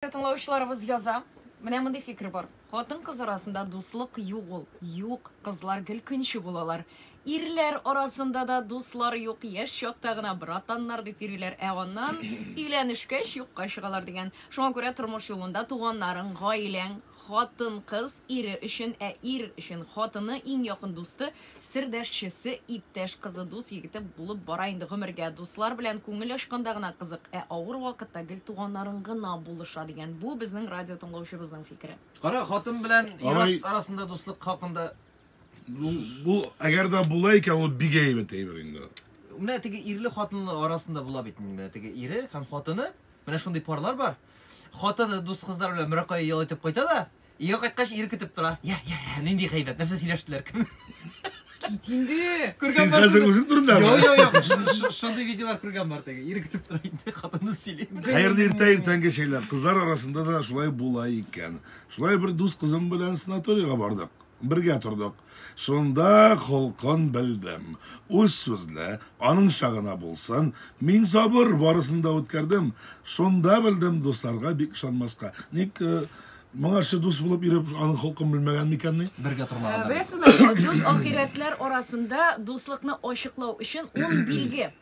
Тыңлаучыларыбыз яза. Менә мондый фикер бар. Хатын-кыз арасында дуслык юк ул. Юк, кызлар гел көнче булалар. Ирләр арасында да дуслар юк, яшь чакта гына братаннар дип йөриләр, ә аннан өйләнешкәч юкка чыгалар дигән. Шуңа күрә тормыш юлында туганнарың, гаиләң, Хатын-кыз, ире өчен, ә ир өчен, хатыны, иң якын дусты, сердәшчесе, иптәш кызы, дус егете булып бара инде гомергә. Дуслар белән күңел ачканда гына кызык, ә авыр вакытта гел туганнарың гына булыша, дигән бу безнең радио тыңлаучыбызның фикере. Кара, хатын белән ир арасында дуслык хакында сүз. Бу, әгәр дә була икән, ул бик әйбәт әйбер инде. Менә теге ирле хатынлы арасында була бит инде. Менә теге ире һәм хатыны, менә шундый парлар бар. Хатыны дус кызлар белән берәр кая ял итеп кайта да, өйгә кайткач ир көтеп тора. Я, я, я, нинди хәйбәт, нәрсә сөйләштеләр? Кит инде. Күргән бар. Хәзер үзең турында. Йо, йо, йо. Шундый видеолар күргән бар теге. Ир көтеп тора инде, хатыны сөйли. Хәерле иртә иртәнге шәйләр. Кызлар арасында да шулай була икән. Шулай бер дус кызым белән санаторийга бардык. Бергә тордык. Шунда холкын белдем. Үз сүзле, аныңча гына булсын. Мин сабыр, барысын да үткәрдем. Шунда белдем, дусларга бик ышанмаска. Ник моңарчы дус булып йөреп, аның холкын белмәгән микән ни? Бергә тормаганнар. Беләсезме, дус ахирәтләр арасында дуслыкны ачыклау өчен ун билге.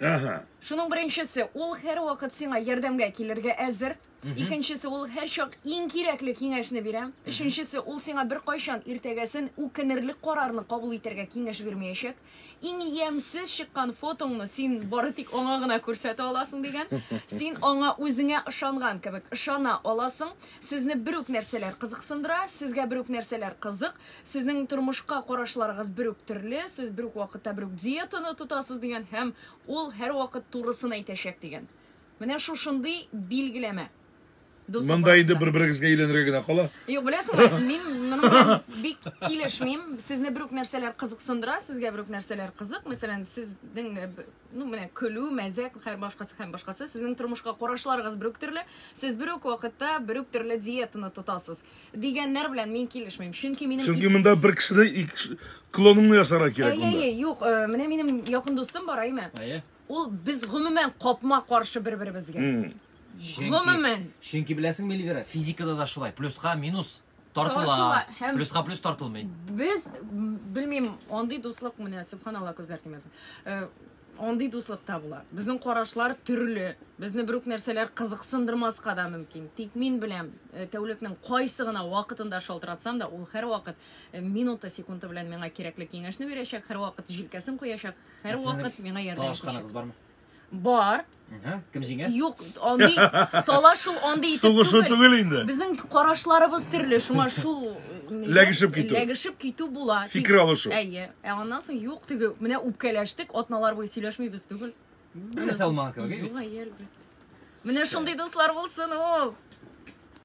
Ага. Шуның беренчесе, ул һәрвакыт сиңа ярдәмгә килергә әзер. Икенчесе ул һәрчак иң кирәкле киңәшне бирә. Өченчесе ул сиңа бер кайчан иртәгәсен үкенерлек карарны кабул итәргә киңәш бирмәячәк. Иң ямьсез чыккан фотоңны син бары тик аңа гына күрсәтә аласың дигән. Син аңа үзеңә ышанган кебек ышана аласың. Сезне бер үк нәрсәләр кызыксындыра, сезгә бер үк нәрсәләр кызык, сезнең тормышка карашларыгыз бер үк төрле, сез бер үк вакытта бер үк диетаны тотасыз дигән һәм ул һәрвакыт турысын әйтәчәк дигән. Менә шушындый билгеләмә. Дуслык Монда инде бер-берегезгә өйләнергә генә кала. Юк, беләсеңме, мин моның белән бик килешмим. Сезне бер үк нәрсәләр кызыксындыра, сезгә бер үк нәрсәләр кызык. Мәсәлән, сезнең э, ну менә көлү, мәзәк, һәр башкасы һәм башкасы. Сезнең тормышка карашларыгыз бер үк төрле. Сез бер үк вакытта бер үк төрле диетаны тотасыз. Дигәннәр белән мин килешмим. Чөнки минем Чөнки монда бер кешене клоныңны ясарга кирәк монда. Әйе, юк, э, менә минем якын дустым бар, әйме? Әйе. Ул без гомумән капма-каршы бер-беребезгә. Гомумән. Чөнки беләсеңме, Эльвира, физикада да шулай. Плюска минус тартыла. Плюска плюс тартылмый. Без белмим, андый дуслык менә, субханалла күзләр тимәсен. Э, андый дуслык та була. Безнең карашлар төрле. Безне бер үк нәрсәләр кызыксындырмаска да мөмкин. Тик мин беләм, э, тәүлекнең кайсы гына вакытында шалтыратсам да, ул һәрвакыт э, минуты, секунды белән миңа кирәкле киңәшне бирәчәк, һәрвакыт җилкәсен куячак, Һәрвакыт миңа ярдәм итүче. Талашканыгыз бармы? Бар. Кем җиңә? Юк, андый талашу андый итеп түгел. Сугышу түгел инде. Безнең карашларыбыз төрле, шуңа шул ләгешеп китү. Ләгешеп китү була. Фикер алышу. Әйе. Ә аннан соң юк теге, менә үпкәләштек, атналар буе сөйләшмибез түгел. Менә Салман кебек. Юк, әйе. Менә шундый дуслар булсын ул.